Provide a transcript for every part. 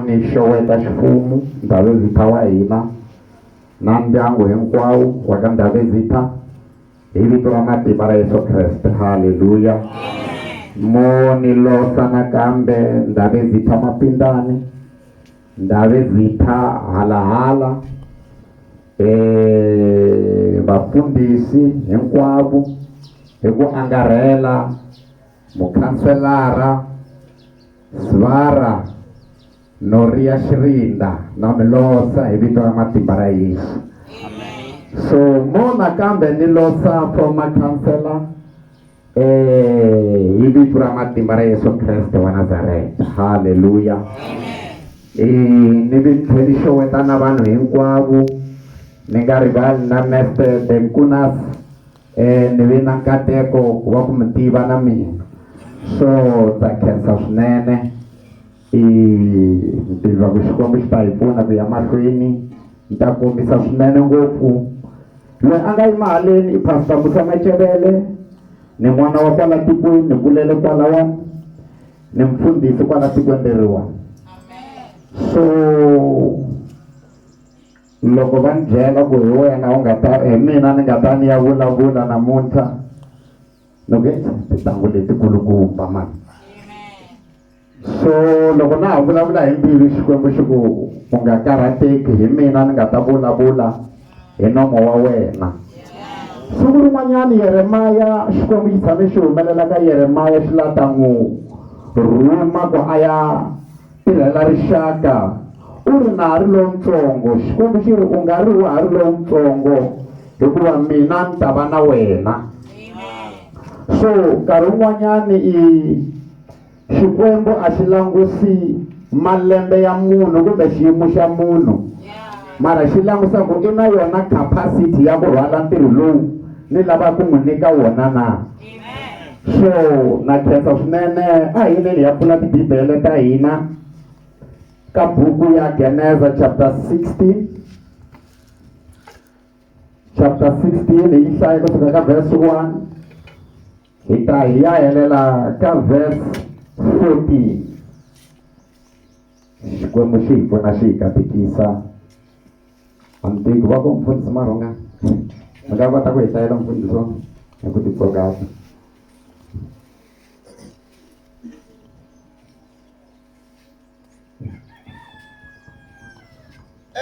Ni xeweta xifumu Ndabezitha wa hina na ndyangu hinkwawu wa ka Ndabezitha hi vito ra matimba ra Yesu Kreste. Haleluya! Mo ni losa nakambe Ndabezitha Mapindani, Ndabezitha halahala, eh vafundhisi hinkwavu hi ku angarhela Mukhanselara Svara Noria Xirinda na mi losa hi vito ra matimba ra Yesu. So mo nakambe ni losa former counselor eh hi vito ra matimba ra Yesu Kreste wa Nazareta. Hallelujah. Eh ni vi tlhe ni xeweta na vanhu hinkwavo ni nga rivali na Mister Benkunas ni ve na nkateko wa ku mi tiva na mina so ndza khensa swinene i tiva ku Xikwembu xi ta hi pfuna ku ya mahlweni ni ta kombisa swinene ngopfu loyi a nga yima haleni i pastor Musa Machelele ni n'wana wa kwala tikweni ni kulele kwalawani ni mfundhisi kwala tikweni leriwani so loko va ni byela ku hi wena u nga ta hi mina ni nga ta ni ya vulavula namuntlha ni ku tintangu letikulukumba mani so loko na ha vulavula hi mbilu xikwembu xi ku u nga karhateki hi mina ni nga ta vulavula hi nomo wa wena siku rin'wanyana yeremaya xikwembu xi tshame xi humelela ka yeremaya xi la ta n'wi rhuma ku a ya tirhela rixaka u ri na ha ri lontsongo xikwembu xi ri u nga ri wa ha ri lontsongo hikuva mina ni ta va na wena so nkarhi wun'wanyani i xikwembu a xi langusi malembe ya munhu kumbe xiyimo xa munhu mara xi langusa ku i na yona capacity ya ku rhwala ntirho lowu ni lava ku n'wi nyika wona na so na khensa swinene a hi yineni ya pfula tibibele ta hina ka buku ya geneza chapter 16 chapter 16 hi yi hlaya ku fika ka verse 1 hi ta hi ya helela ka verse 14 Xikwembu xi hi pfuna xi hi katekisa a mi teki va ku mfundhisi marhonga mi nga kota ku hi hlayela mfundhiso hi ku titsongata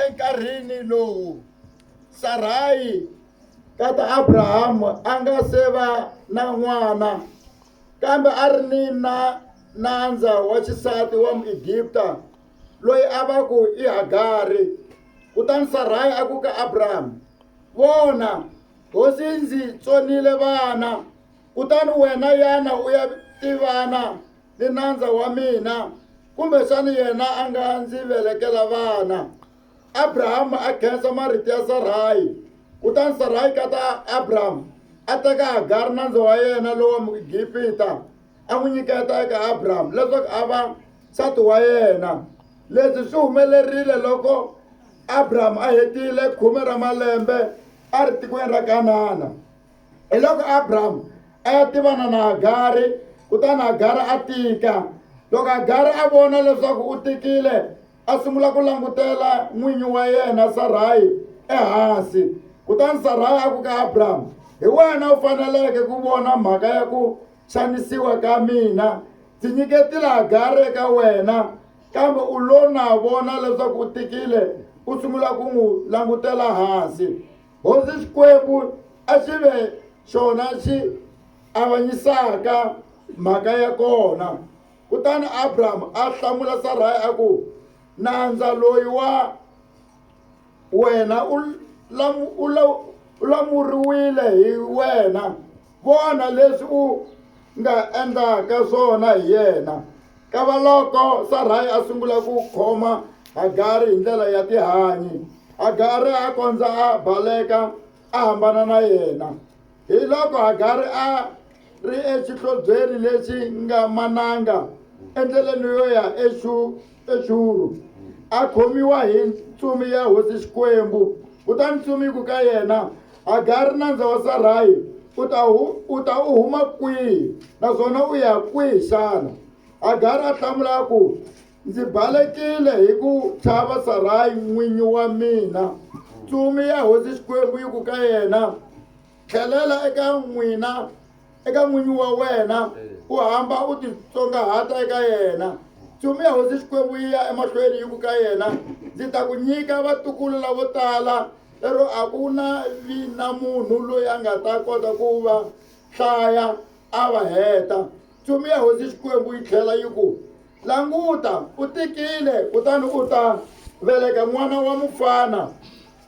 enkarhini lowu sarayi tata abrahamu a nga se va na n'wana kambe a ri ni na nandza wa xisati wa Muegipta loyi a va ku i Hagari. Kutani Sarayi a ku ka Abrahama, Vona, hosi ndzi tsonile vana, kutani wena yana u ya tivana ni nandza wa mina, kumbexana yena a nga ndzi velekela vana. Abrahama a khensa marito ya Sarayi, kutani Sarayi kata Abrahama a teka Hagari nandza wa yena lowa Muegipta. a n'wi nyiketa eka Abrahamu leswaku a va nsati wa yena. Leswi swi humelerile loko Abrahamu a hetile khume ra malembe a ri tikweni ra Kanana. Hi loko Abrahamu a ya tivana na Hagari, kutani Hagari a tika. Loko Hagari a vona leswaku u tikile, a sungula ku langutela n'winyi wa yena Sarayi ehansi. Kutani Sarayi a ku ka Abrahamu, Hi wena u faneleke ku vona mhaka ya ku xanisiwa ka mina ndzi nyike tilagari eka wena kambe u lo na vona leswaku u tikile u sungula ku n'wi langutela hansi hosi xikwembu a xi ve xona xi avanyisaka mhaka ya kona kutani abrahamu a hlamula saraya a ku nandza loyi wa wena u lamuriwile hi wena Vona leswi u nga endlaka swona hi yena. Kavaloko Sarayi a sungula ku khoma Hagari hi ndlela ya tihanyi, Hagari a kondza a baleka a hambana na yena. Hi loko Hagari a ri exihlobyeni lexi nga mananga endleleni yo ya exu Pexuru a khomiwa hi ntsumi ya hosi Xikwembu, kutani ntsumi yi ku ka yena, Hagari nandza wa Sarahi, u ta, hu, u ta u huma kwihi, naswona u ya kwihi xana? Hagari a hlamula a ku, Ndzi balekile hi ku chava Sarahi n'winyi wa mina. Ntsumi ya hosi Xikwembu yi ku ka yena, Tlhelela eka n'wina, eka n'winyi wa wena, u hamba u titsongahata eka yena. Nchumu ya hosi Xikwembu yi ya emahlweni yi ku ka yena, Ndzi ta ku nyika vatukulu lavo tala, lero a ku na vi na munhu loyi a nga ta kota ku va hlaya a va heta. Nchumu ya hosi Xikwembu yi tlhela yi ku, Languta, u tikile, kutani u ta veleka n'wana wa mufana.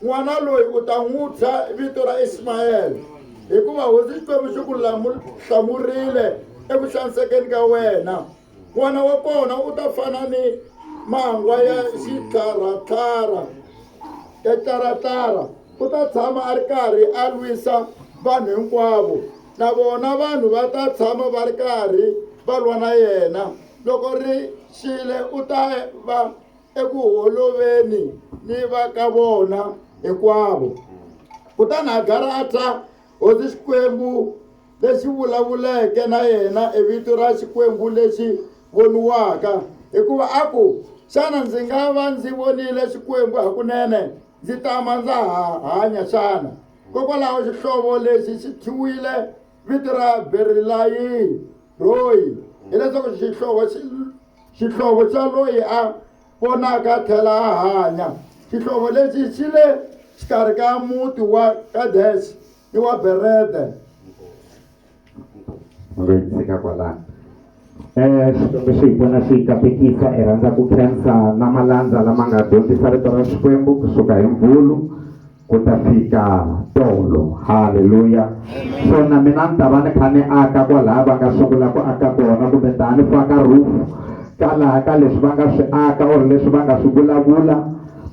N'wana loyi u ta n'wi thya vito ra Ismayele, hikuva Hosi Xikwembu xi ku hlamurile eku xanisekeni ka wena. N'wana wa kona u ta fana ni mangwa ya xitlharatlhara ya tlharatlhara, u ta tshama a ri karhi a lwisa vanhu hinkwavo, na vona vanhu va ta tshama va ri karhi va lwa na yena. Loko ri xile u ta va. eku holoveni ni va ka vona hinkwavo kutani hagara a ta hosi xikwembu lexi vulavuleke na yena e vito ra xikwembu lexi voniwaka hikuva a ku xana ndzi nga va ndzi vonile xikwembu hakunene ndzi tama ndza ha hanya xana kokwalaho xihlovo lexi xi thyiwile vito ra berilayi royi hileswaku xihlovo xi Xihlovo xa loyi a ponaka a tlhela a hanya. Xihlovo lexi xi le xikarhi ka muti wa Kadexe ni wa Berede. Ma nga yi tshika kwalano. Eh, Xikwembu xi hi pfuna xi hi katekisa i rhandza ku khensa na malandza lama nga dyondzisa rito ra Xikwembu kusuka hi Mvhulu ku ta fika tolo haleluya so na mina ni ta va ni kha ni aka kwalaha va nga sungula ku aka kona kumbe ta ni faka roof ka laha ka leswi va nga swi aka or leswi va nga swi vulavula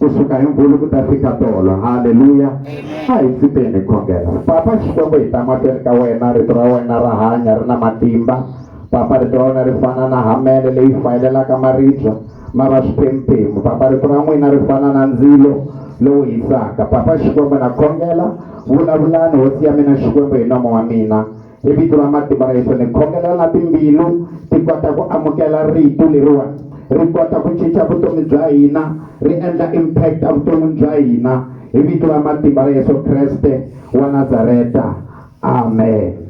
kusuka hi mvulu ku ta fika tolo haleluya a hi tsipeni khongela papa xikwembu hi ta mahlweni ka wena rito ra wena ra hanya ri na matimba Papa rito ra wena ri fana na hamele leyi fayelelaka maribya ma va swiphemu-phemu. Papa rito ra n'wina ri fana na ndzilo lowu hisaka. Papa Xikwembu na khongela, vulavulani hosi ya mina Xikwembu hi nomo wa mina. Hi vito ra matimba ra Yesu ni khongela na timbilu ti kota ku amukela rito leriwani ri kota ku cinca vutomi bya hina ri endla impact evuton'wini bya hina hi vito ra matimba ra Yesu Kreste wa Nazareta. amen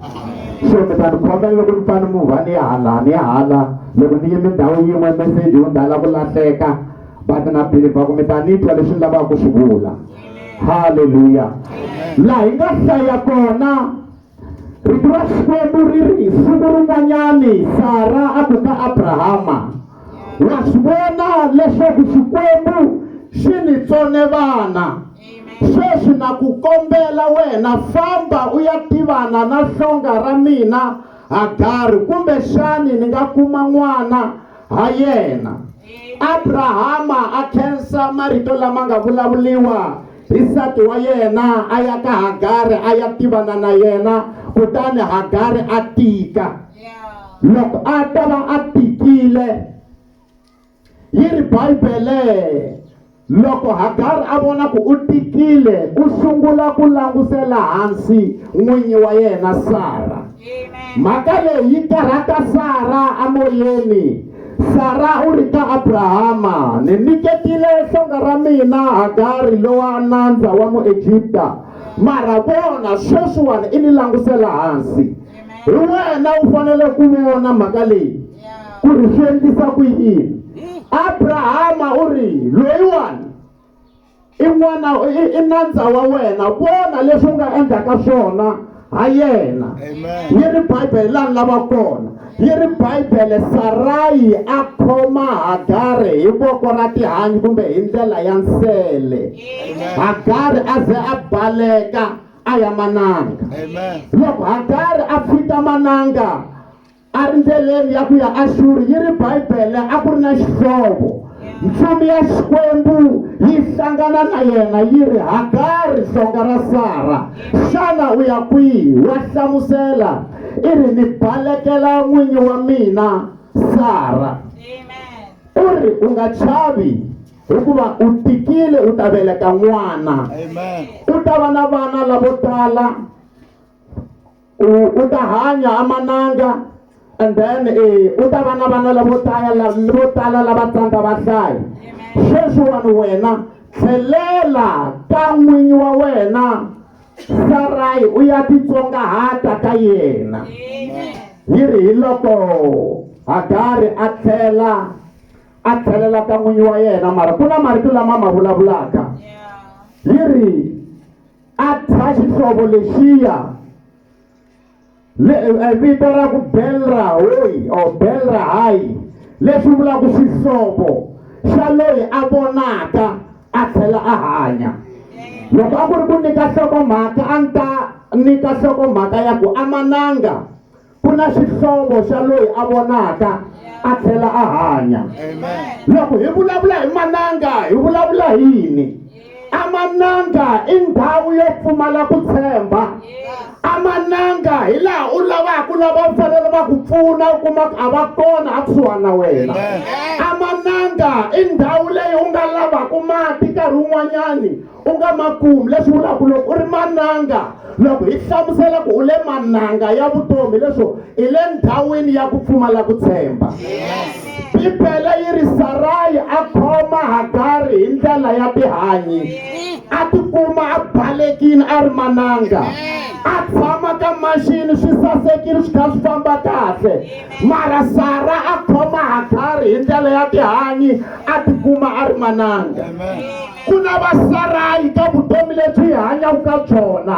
so mi ta ni khoma loko ni fane mu va ni ya hala ni ya hala loko ni yime ndhawu yin'we meseji wu ndhala ku lahleka but na believe ku mi ta ni twa leswi ni lavaka ku swi vula halleluya laha hi nga hlaya kona rito ra xikwembu ri ri hi siku rin'wanyani sara a ku ka abrahama wa swi vona leswaku xikwembu xi ni tsone vana Sweswi na ku kombela wena, famba u ya tivana na hlonga ra mina Hagari, kumbexani ni nga kuma n'wana ha yena. Abrahama a khensa marito lama nga vulavuriwa hi nsati wa yena, a ya ka Hagari a ya tivana na yena, kutani Hagari a tika. Loko a ta va a tikile, Yi ri Bibele, Loko Hagari a vona ku u tikile, u sungula ku langusela hansi n'winyi wa yena Sara. Mhaka leyi yi karhata Sara emoyeni. Sara u ri ka Abrahama, Ni nyiketile hlonga ra mina Hagari lowa nandza wa Muegipta, mara vona, sweswiwani i ni langusela hansi. hi wena u fanele ku vona mhaka leyi ku ri swi endlisa ku yini abrahama u ri loyiwani i n'wana i nandza wa wena vona leswi u nga endlaka swona ha yena yi ri bibele lani lava kona yi ri bibele sarayi a khoma hagari hi voko ra tihanyi kumbe hi ndlela ya nsele hagari a ze a baleka a ya mananga Amen. loko hagari a pfita mananga a ri ndleleni ya ku ya axuri yi ri bibele a ku ri na xihlovo mfumo ya xikwembu yi hlangana na yena yi ri hagari hlonga ra sara xana u ya kwihi wa hlamusela i ri ni balekela n'winyi wa mina sara Amen. u ri u nga chavi hikuva u tikile u ta veleka n'wana u ta va na vana lavo tala u ta hanya a mananga and then eh, u ta va na vana lavo tala vo tala lava tsandza va hlaya sweswiwani wena tlhelela ka n'winyi wa wena sarayi u ya titsongahata ka yena yi ri hi loko hagari a tlhela a tlhelela ka n'winyi wa yena mara ku na marito lama ma vulavulaka yi ri a thya xihlovo lexiya vito ra ku belra hoyi or belra hayi leswi vulaka xihlovo xa loyi a vonaka a tlhela a hanya loko a ku ri ku nyika nhlokomhaka a ni ta nyika nhlokomhaka ya ku amananga ku na xihlovo xa loyi a vonaka a tlhela a hanya loko hi vulavula hi mananga hi vulavula hi yini amananga i ndhawu yo pfumala ku tshemba amananga hi laha u lavaka u lava u fanele va ku pfuna u kuma ku a va kona a kusuhani na wena amananga i ndhawu leyi u nga lavaka mati nkarhi wun'wanyani u nga ma kumi leswi vulaka loko u ri mananga loko hi hlamusela ku u le mananga ya vutomi leswo i le ndhawini ya ku pfumala ku tshemba bibele yi ri sarayi a khoma hagari hi ndlela ya tihanyi a tikuma a balekile a ri mananga a tshama ka maxini swi sasekile swi kha swi famba kahle mara sara a khoma hagari hi ndlela ya tihanyi a tikuma a ri mananga Amen. ku na vasarayi ka vutomi lebyi hi hanyaka ka byona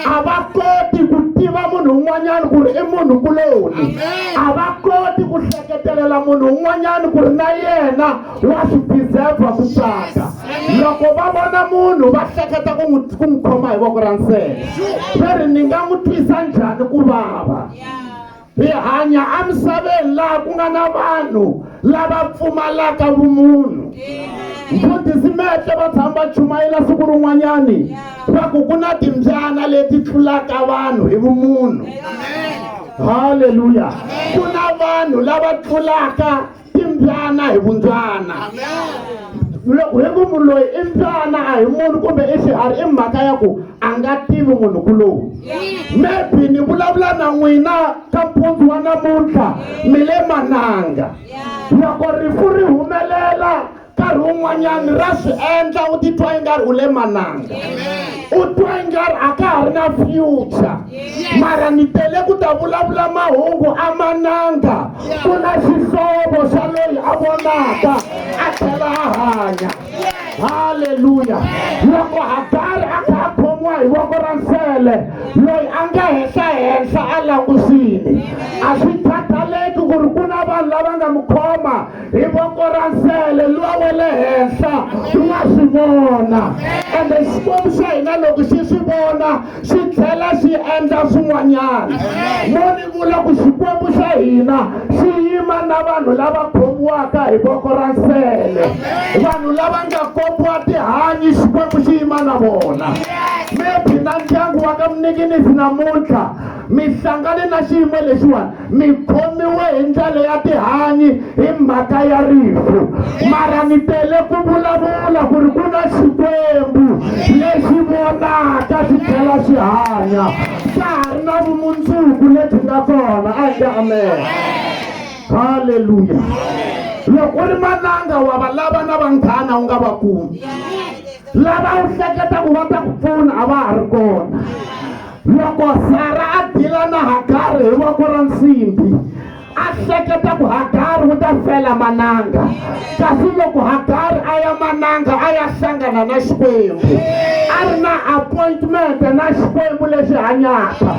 a va koti ku tiva munhu un'wanyana ku ri i munhu kuloni a va koti ku hleketelela munhu un'wanyana ku ri na yena wa swi deserva ku tsaka loko va vona munhu va hleketa ku n'wi ku n'wi khoma hi voko ra nsele se ri ni nga n'wi twisa njhani ku vava hi hanya emisaveni laha ku nga na vanhu lava pfumalaka vumunhu mfundhisi mehle va tshama va chumayela siku rin'wanyani va ku ku na timbyana leti tlulaka vanhu hi vumunhu halleluya ku na vanhu lava tlulaka i mbyana hi vundzana loko hi ku munhu loyi i mbyana a hi munhu kumbe i xiharhi i mhaka ya ku a nga tivi munhu kulowu maybe ni vulavula na n'wina ka mpundzu wa namuntlha mi le mananga loko rifu ri humelela nkarhi wun'wanyani ra swi endla u titwa i nga ri u le mananga u twa i nga ri a ka ha ri na future mara ni tele ku ta vulavula mahungu a mananga ku na xihlovo xa loyi a vonaka a tlhela a hanya halleluya loko hagari a kha a khomiwa hi voko ra nsele loyi a nga henhla henhla a langusini a swi khathaleki ku ri ku na vanhu lava nga n'wi khoma hi voko ra nsele luwa wa le henhla u nga swi vona ende xikwembu xa hina loko xi swi vona xi tlhela xi endla swin'wanyana mo ni vula ku xikwembu xa hina xi yima na vanhu lava khomiwaka hi voko ra nsele vanhu lava nga kopiwa tihanyi xikwembu xi yima na vona maybe na ndyangu wa ka mnikinisi namuntlha mi hlangane na xiyimo lexiwani mi khomiwe hi ndlela ya tihanyi hi mhaka ya rifu mara mi tele ku vulavula ku ri ku na xikwembu lexi vonaka xi tlhela xi hanya ka ha ri na vumundzuku lebyi nga kona a hi nge amen halleluya loko u ri mananga wa va lava na vanghana u nga va kumi lava u hleketa ku va ta ku pfuna a va ha ri kona Loko Sara a dila na Hagari hi voko ra nsimbi, a hleketa ku Hagari u ta fela mananga. Kasi loko Hagari a ya mananga a ya hlangana na Xikwembu, a ri na appointment na Xikwembu lexi hanyaka.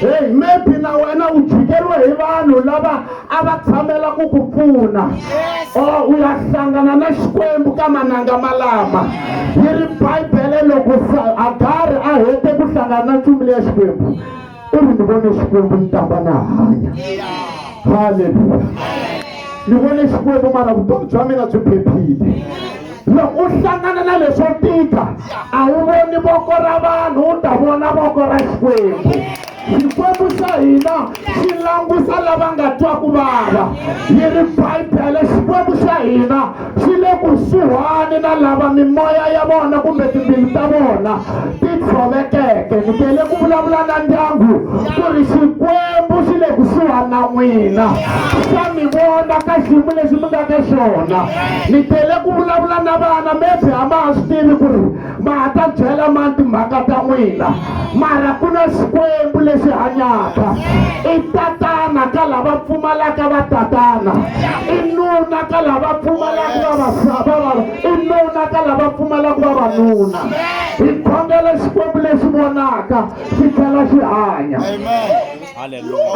Hey, maybe na wena u jikeriwe hi vanhu lava a va tshamela ku ku pfuna or u ya hlangana na xikwembu ka mananga malama yi ri bibele loko agari a hete ku hlangana na nchumu leya xikwembu u ri ni vone xikwembu ni tamba na hanya halleluya ni vone xikwembu mara vutomi bya mina byi phephile loko u hlangana na leswo tika a wu voni voko ra vanhu u ta vona voko ra xikwembu xikwembu xa hina xi langusa lava nga twa ku vava yi ri bibele xikwembu xa hina xi le kusuhani na lava mimoya ya vona kumbe timbilu ta vona ti tshovekeke ni tele ku vulavula na ndyangu ku ri xikwembu xi le kusuhani na n'wina xa mi vona ka xiyimo lexi mi nga ka xona ni tele ku vulavula na vana maybe a ma ha swi tivi ku ri ma ha ta byela mani timhaka ta n'wina mara ku na xikwembu lexi hanyaka i tatana ka lava pfumalaka va tatana i nuna ka lava pfumalaka vavasava i nuna ka lava pfumalaka vavanuna hi khongela xikwembu lexi vonaka xi tlhela xi hanya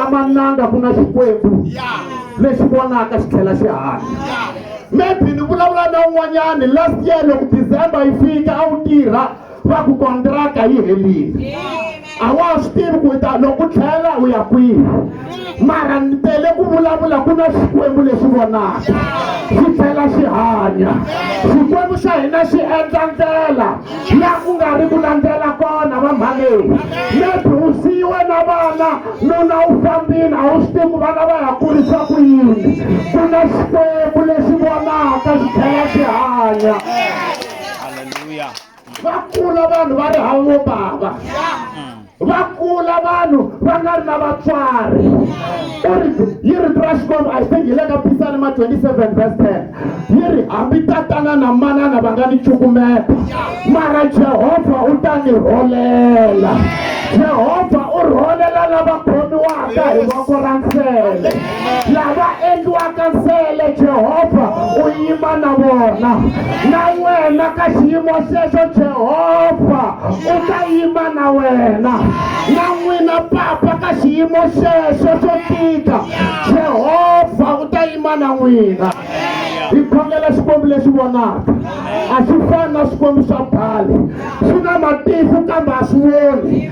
amananga ku na xikwembu lexi vonaka xi tlhela xi hanya maybe ni vulavula na un'wanyani last year loko december yi fika a wu tirha va ku kontraka yi helile a wa swi tivi ku ta loko u tlhela u ya kwihi mara ni tele ku vulavula ku na xikwembu lexi vonaka xi tlhela xi hanya xikwembu xa hina xi endla ndlela la ku nga ri ku landzela kona va mhalewu maybe u siyiwe na vana nuna u fambile a wu swi tivi ku vana va ya kurisa ku yini ku na xikwembu lexi vonaka xi tlhela xi hanya va kula vanhu va ri havo bava va kula vanhu va nga ri na vatswari u ri yi ri ra xikwembu i think hi le ka pisalema 27 vers 10 yi ri hambi tatana na manana va nga ni cukumeta mara jehovha u ta ni rholela jehovha u rholela lava khomiwaka hi voko ra nsele lava endliwaka nsele jehovha u yima na vona na wena ka xiyimo xexo jehovha u ta yima na wena na n'wina papa ka xiyimo xexo xo tika jehovha u ta yima na n'wina hi khongela xikwembu lexi vonaka a xi fani na swikwembu swa bali swi na matihlo kambe a swi voni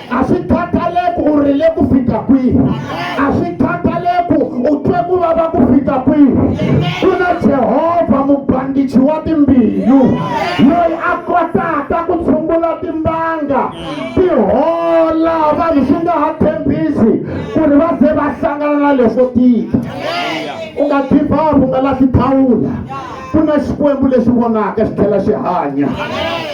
a swi khathaleki u rile ku fika kwihi a swi khathaleki u twe ku vava ku fika kwihi ku na jehovha mubandichi wa timbilu loyi a kotaka ku tshungula timbanga ti hola vanhu swi nga ha tshembisi ku ri va ze va hlangana na leswo tika u nga give up u nga lahli thawula ku na xikwembu lexi vonaka xi tlhela xi hanya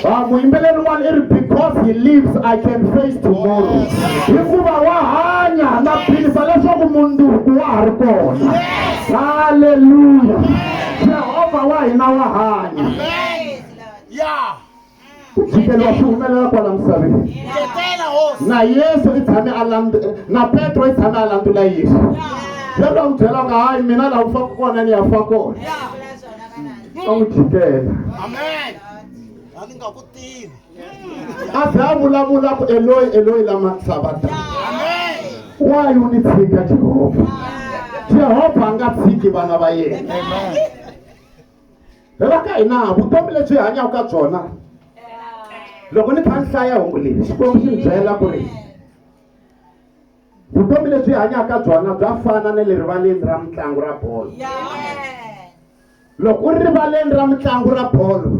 a muyimbeleri wani i ri because he lives i can face tomorrow hikuva wa hanya na philisa leswaku munduku wa ha ri kona halleluya jehova wa hina wa hanya ya ku tshikeriwa swi humelela kwala misaveni na yesu i tshame a landu na petro i tshame a landula yesu petro a n'wi byela nga hayi mina laha ku faka kona ni ya fa kona a n'wi jikela a ze a vulavula ku eloyi eloyi lama sabata wayi u ni tshika jehovha jehovha a nga tshiki vana va yena Vhela ka hina vutomi lebyi hi hanyaka ka byona loko ni kha ni hlaya hungu leyi xikwembu xi ni byela ku ri vutomi lebyi hi hanyaka ka byona bya fana na le rivaleni ra mitlangu ra bolo loko u ri rivaleni ra mitlangu ra bolo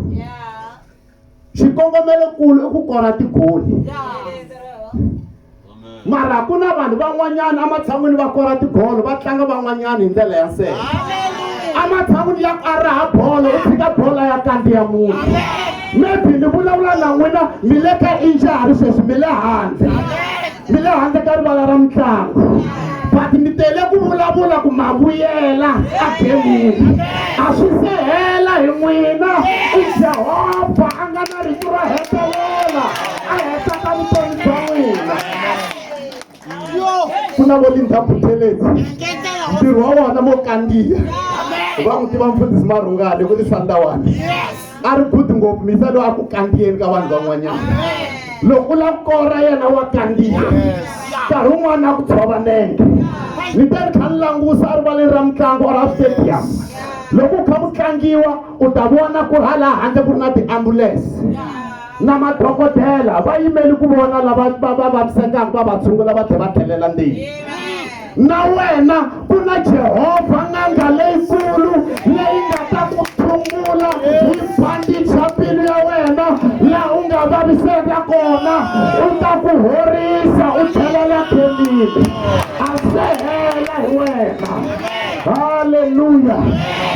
xikongomelokulu i ku kora tigoli mara ku na vanhu van'wanyana ematshan'wini va kora tigolo va tlanga van'wanyana hi ndlela ya nsele ematshan'wini ya ku a raha bolo u tshika bolo ya kandziya munhu maybe ni vulavula na n'wina mi le ka injari sweswi mi le handle ndzi le handle ka rivala ra mitlangu but mi tele ku vulavula ku ma vuyela egemini a swi se hela hi n'wina i jehovha a nga na rito ro hetelela a hetaka vutomi bya n'wina ku na vo lindha butheleti ntirho wa wona vo kandziya va n'wi tiva mfundhisi marhungani ku tisandawana a ri good ngopfu misa loyi a ku kandziyeni ka vanhu van'wanyana loko u lava ku kora yena wa kandziya nkarhi wun'wana a ku tshova nenge ni te ni kha ni langusa erivaleni ra mitlangu or a stadium loko u kha ku tlangiwa u ta vona ku ri ha laha handle ku ri na tiambulense na madokodela va yimeli ku vona lava va va vavisekaka va va tshungula va tlhe va tlhelela ndzeni na wena ku na jehovha n'anga leyikulu leyi nga ta ku tshungula hi bandicha mbilu ya wena laha u nga vaviseka kona u ta ku horisa u tlhelela khelini a se hela hi wena halleluya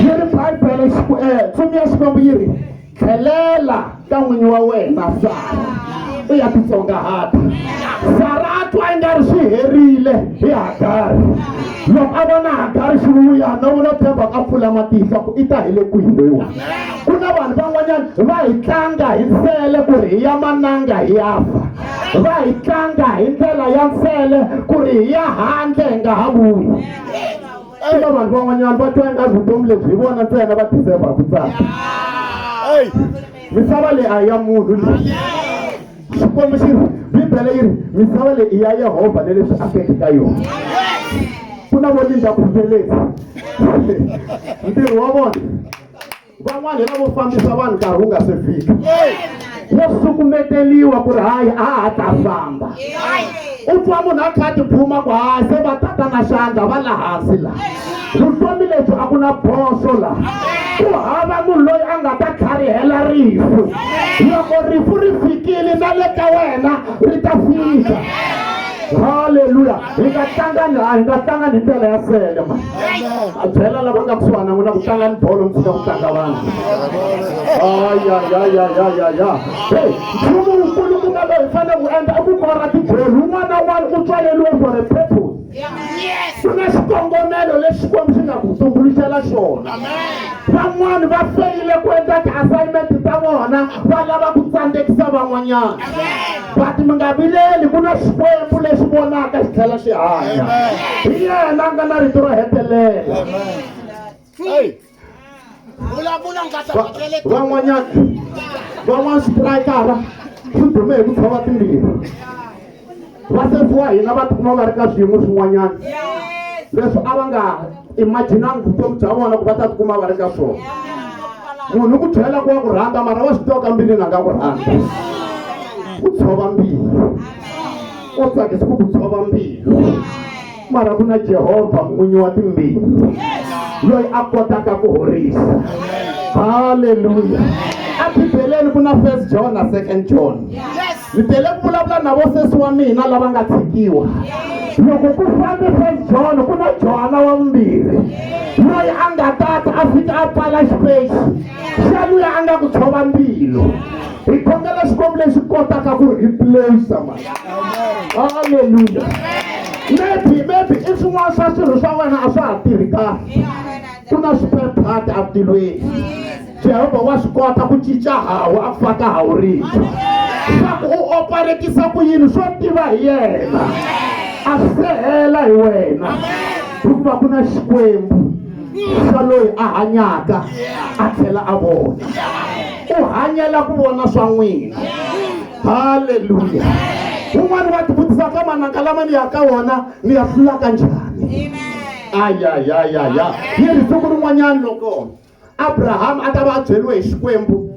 yi ri bibele eh, tsumu ya xikwembu yi ri tlhelela ka n'winyi wa wena sara u ya titsongahata sara a twa i nga ri swi herile hi hagari loko a vona hagari xi vuya no vula tshemba ka pfula matihlo ku i ta hi le kwihi loyiwa ku na vanhu van'wanyana va hi tlanga hi nsele ku ri hi ya mananga hi ya fa va hi tlanga hi ndlela ya nsele ku ri hi ya handle hi nga ha vuyi swi na vanhu van'wanyana va twa ingazi vutomi lebyi hi vona ntsena va deserva ku tsaka eyi misava leyi a ya munhu leyi xikwembu xi ri bibele yi ri misava leyi i ya yehovha na leswi akeke ka yona ku na vo linda ku felesi ntirho wa vona van'wana hi lavo fambisa vanhu nkarhi wu nga se fika wo sukumeteliwa ku ri hayi a ha ta famba u twa munhu a kha a tiphuma ku hayi se va tata na xandla va la hansi laha vutomi lebyi a ku na boso laha ku hava munhu loyi a nga ta tlharihela rifu loko rifu ri fikile na le ka wena ri ta fika haleluya hi nga tlangani a hi nga tlangani hi ndlela ya sele ma a byela lava nga kusuhana na n'wina ku tlangani bolo mi fika ku tlanga vanhu ayayayayayaya hey nchumu wukulu ku nga loyi hi fanele ku endla i ku kora tibolo un'wana na un'wana u tswaleriwe for a purpose ku na xikongomelo lexi xikwembu xi nga ku tumbuluxela xona van'wani va feyile ku endla ti-assignment ta vona va lava ku tsandzekisa van'wanyana but mi nga vileli ku na xikwembu lexi vonaka xi tlhela xi hanya hi yena a nga na rito ro hetelela van'wanyana van'wana xitirayikara xi dume hi ku tshova timbirhi vasefiwa hina va tikuma va ri ka swiyimo swin'wanyana leswi a va nga imaginangi vutomi bya vona ku va ta tikuma va ri ka swona munhu ku tlhela ku wa ku rhandza mara wa swi tiva ka mbilini a nga ku rhandza ku tshova mbilu u tsakisa ku ku tshova mbilu mara ku na jehovha n'winyi wa timbilu loyi a kotaka ku horisa halleluya ebibeleni ku na first john na second john Ndzi tele ku vulavula na vosesi wa mina lava nga tshikiwa. Loko ku fambe First John ku na Johana wa vumbirhi loyi a nga tata a fika a pfala xipexi xa luya a nga ku tshova mbilu. Hi khongela Xikwembu lexi kotaka ku replace mali. Hallelujah. Maybe maybe i swin'wana swa swirho swa wena a swa ha tirhi kahle. Ku na swiphephati etilweni. jehovha wa swi kota ku cinca hawu a faka hawu rintshwa leswaku u oparetisa ku yini swo tiva hi yena a sehela hi wena hikuva ku na xikwembu xa loyi a hanyaka a tlhela a vona u hanyela ku vona swa n'wina halleluya un'wana wa tivutisa ka mananga lama ni ya ka wona ni ya hlulaka njhani ayayayaya yi ri siku rin'wanyani loko Abrahama a ta va a byeriwe hi Xikwembu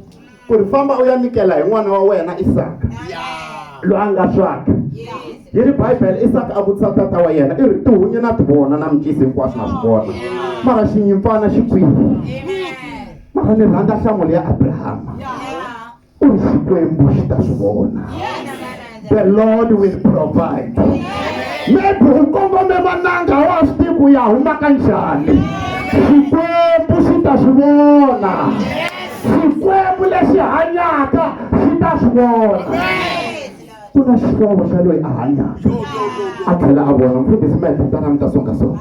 ku ri famba u ya nyikela hi n'wana wa wena Isaka loyi a nga swaka yi ri Bibele Isaka a vutisa tata wa yena i ri tihunyi na tivona na mikisi hinkwaswo na swi vona mara xinyimpfana xi kwihi mara ni rhandza nhlamulo ya Abrahama ku ri xikwembu xi ta swi vona the lord will provide maybe u kongome mananga a wa swi tivi ku ya huma ka njhani xikwembu xi ta swi vona xikwembu lexi hanyaka xi ta swi vona ku na xihlovo xa loyi a hanyaka a tlhela a vona mfundhisi ma hi tintana mi ta songasonga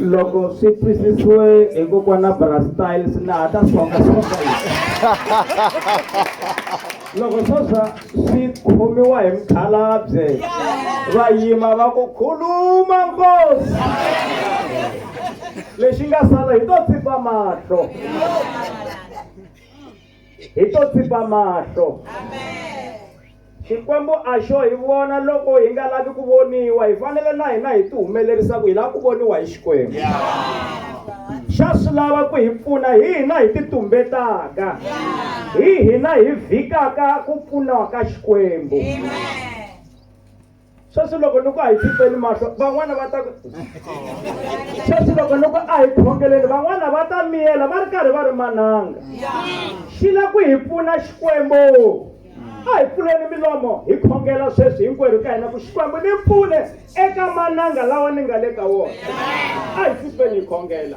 loko swi twisisiwe hi kokwana brastyle swi nga ha ta songa songa loko sweswa swi khomiwa hi mkhalabye va yima va ku khuluma nkosi lexi nga sala hi to tsipa mahlo hi to tsipa mahlo xikwembu a xo hi vona loko hi nga lavi ku voniwa hi fanele na hina hi ti humelerisa ku hi lava ku voniwa hi xikwembu xa swi lava ku hi pfuna hi hina hi ti tumbetaka hi hina hi vhikaka ku pfuniwa ka xikwembu Amen. sweswi loko ni ku a hi pfipeni mahlo van'wana va ta sweswi loko ni ku a hi khongeleni van'wana va ta miyela va ri karhi va ri mananga xi la ku hi pfuna xikwembu a hi pfuleni milomo hi khongela sweswi hinkwerhu ka hina ku xikwembu ni pfune eka mananga lawa ni nga le ka wona a hi pfipeni hi khongela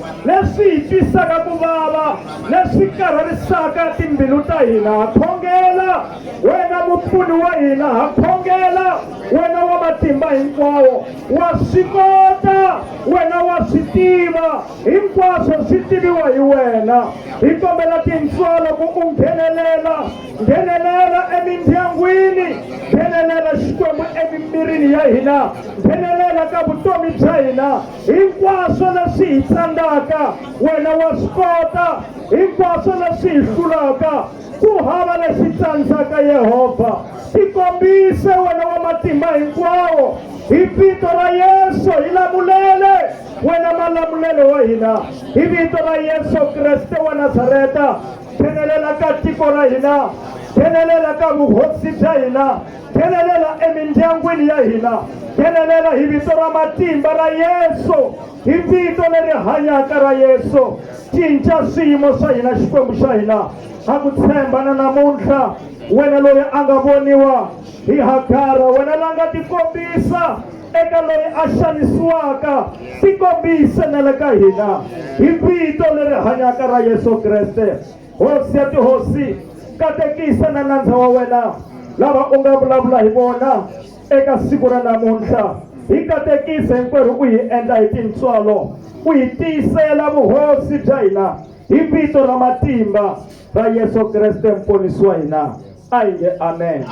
leswi hi twisaka ku vava leswi karhalisaka timbilu ta hina ha khongela wena mupfuni wa hina ha khongela wena wa matimba hinkwawo wa swi kota wena wa swi tiva hinkwaswo swi tiviwa hi wena hi kombela tintswalo ku u nghenelela nghenelela emindyangwini nghenelela xikwembu emimirini ya hina nghenelela ka vutomi bya hina Hinkwaswo leswi hi tlangaka wena wa swi kota, hinkwaswo leswi hi hlulaka ku hava lexi tsandzaka. Yehovha, tikombise wena wa matimba hinkwawo, hi vito ra Yesu hi lamulele wena malamulelo wa hina, hi vito ra Yesu Kreste wa Nazareta, phenelela ka tiko ra hina, phenelela ka vuhosi bya hina. nghenelela emindyangwini ya hina nghenelela hi vito ra matimba ra yesu hi vito leri hanyaka ra yesu cinca swiyimo swa hina xikwembu xa hina ha ku tshemba na namuntlha wena loyi a nga voniwa hi hagara wena la nga tikombisa eka loyi a xanisiwaka tikombise na le ka hina hi vito leri hanyaka ra yesu kreste hosi ya tihosi katekisa na nandza wa wena lava u nga vulavula hi vona eka siku ra namuntlha hi katekisa hinkwerhu u hi endla hi tintswalo u hi tiyisela vuhosi bya hina hi vito ra matimba ra yesu kreste mponisi wa hina a hi nge amen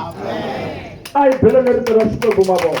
a hi belo lerito ra xikwembu mavona